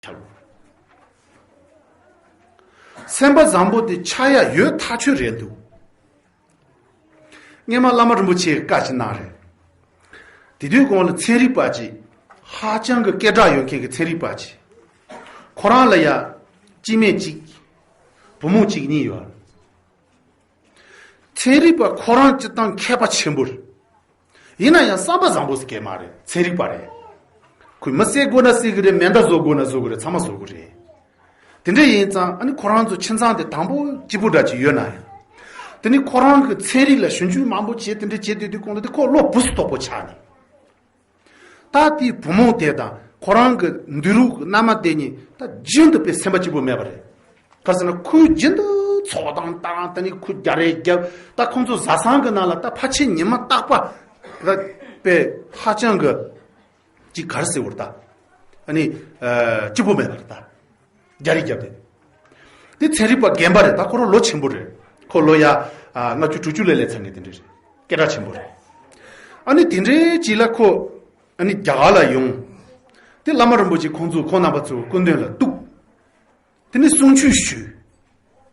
ཁྱབ། སེམས་པ་བཟང་པོ་དེ་ཆགས་ཡ་ཡོད་ཐག་ཆོད་རེད་འདུག། སྔས་མ་བླ་མ་རིན་པོ་ཆེའི་བཀའ་ཅི་གནང་རེད། དེ་དུས་གོང་ལ་ཚན་རིག་པ་ཅི། ཧ་ཅང་གི་སྐད་གྲགས་ཡོད་མཁན་གྱི་ཚན་རིག་པ་ཅི། ཁོ་རང་ལ་ཡ། སྐྱིད་སྨད་གཅིག། བུ་མོ་གཅིག་གཉིས་ཡོད། ཚན་རིག་པ་ཁོ་རང་སྤྱི་བཏང་མཁས་པ་ཆེན་པོ་རེད། ཡིན་ན་ཡང་བསམ་པ་བཟང་པོ་ཟེར་སྐད་མ་རེད་ཚན་རིག་པ་རེད། ཁོས་མི་བསད་དགོས་ན་བསད་གི་རེད་མེ་མདའ་བཟོ་དགོས་ན་བཟོ་གི་རེད་ཚང་མ་བཟོ་གི་རེད། དེ་འདྲ་ཡིན་ཙང་ཨ་ནི་ཁོ་རང་ཚོ་ཁྱིམ་ཚང་དེ་དང་པོ་སྐྱིད་པོ་འདྲ་གཅིག་ཡོད་ན་ཡང། དེ་ནི་ཁོ་རང་གི་ཚན་རིག་ལ་ཞུ་འཇུག་མང་པོ་བྱས་དེ་འདྲ་བྱས་དུས་དེ་གོང་དུ་དེ་ཁོ་བློ་བུ་སུ་དོག་པོ་ཆགས་ནས། ད་དེའི་བུ་མོ་དེ་དང་ཁོ་རང་གི་འདུས་རུས་ཀྱི་མནའ་མ་དེ་གཉིས་ད་རྒྱུན་དུ་དཔེ་སེམས་པ་གཅིག་པུ་མེད་པ་རེད། ག་སྲིད་ན་ཁོས་རྒྱུན་དུ་ཚོགས་དང་བཏང་ད་ནི་ཁོས་རྒྱ་རེ་བརྒྱབ་ད་ཁོང་ཚོ་བཟའ་ཚང་གི་ནང་ལ་ད་ཕ་ཆེ་ཉི་མ་སྟག་པ་ད་དཔེ་ཧ་ཅང་གི་ཅིག་གར་སེ་བོར་ད་ནི་གཅིག་པུ་མེད་པར་ད་རྒྱ་རིགས་རྒྱབ་རེད། དེ་ཚན་རིག་པ་རྒན་པ་རེད་ད་ཁོ་རང་ལོ་ཆེན་པོ་རེད། ཁོ་ལོ་ཡ་ལྔ་བཅུ་དྲུག་ཅུ་ལས་ལས་ཚང་གི་དེ་འདྲ་རེད། སྐད་གྲགས་ཆེན་པོ་རེད། ཨ་ནི་དེ་འདྲའི་གཅིག་ལ་ཁོ་ཨ་ནི་རྒྱ་གར་ལ་ཡོང། དེ་བླ་མ་རིན་པོ་ཆེ་ཁོང་ཚོ་ཁོང་རྣམ་པ་ཚོ་སྐུ་མདུན་ལ་གཏུགས། དེ་ནས་གསུང་ཆོས་ཞུས།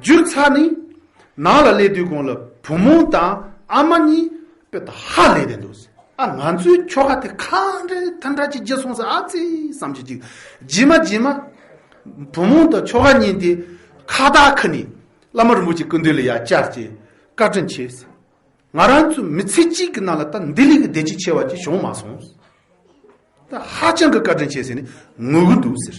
བསྒྱུར་ཚ་ནི། ནང་ལ་སླེབས་དུས་གོང་ལ་བུ་མོ་དང་ཨ་མ་གཉིས་དཔེ་ད་ཧ་ལས་བསྡད་འདུག་ཨ་ང་ཚོའི་ཁྱོ་ག་དེ་ཁ་འདྲ་ཐ་འདྲ་གཅིག་རྗེས་སོང་ཟེར་ཨ་ཙི་བསམ་གྱི་གཅིག་རྗེས་མ་རྗེས་མ། བུ་མོ་དང་ཁྱོ་ག་གཉིས་དེ་ཁ་བརྡ་ཁུ་ནས་བླ་མ་རིན་པོ་ཆེའི་སྐུ་མདུན་ལ་ཡར་བཅར་གྱིས་བཀའ་དྲིན་ཆེ་ཟེར། ང་རང་ཚོ་མི་ཚེ་གཅིག་གི་ནང་ལ་ད་འདི་ལས་ཀྱི་བདེ་སྐྱིད་ཆེ་བ་ཅིག་བྱུང་མ་སོང། ད་ཧ་ཅང་གི་བཀའ་དྲིན་ཆེ་ཟེར་ནས་ངུ་གི་འདུག་ཟེར།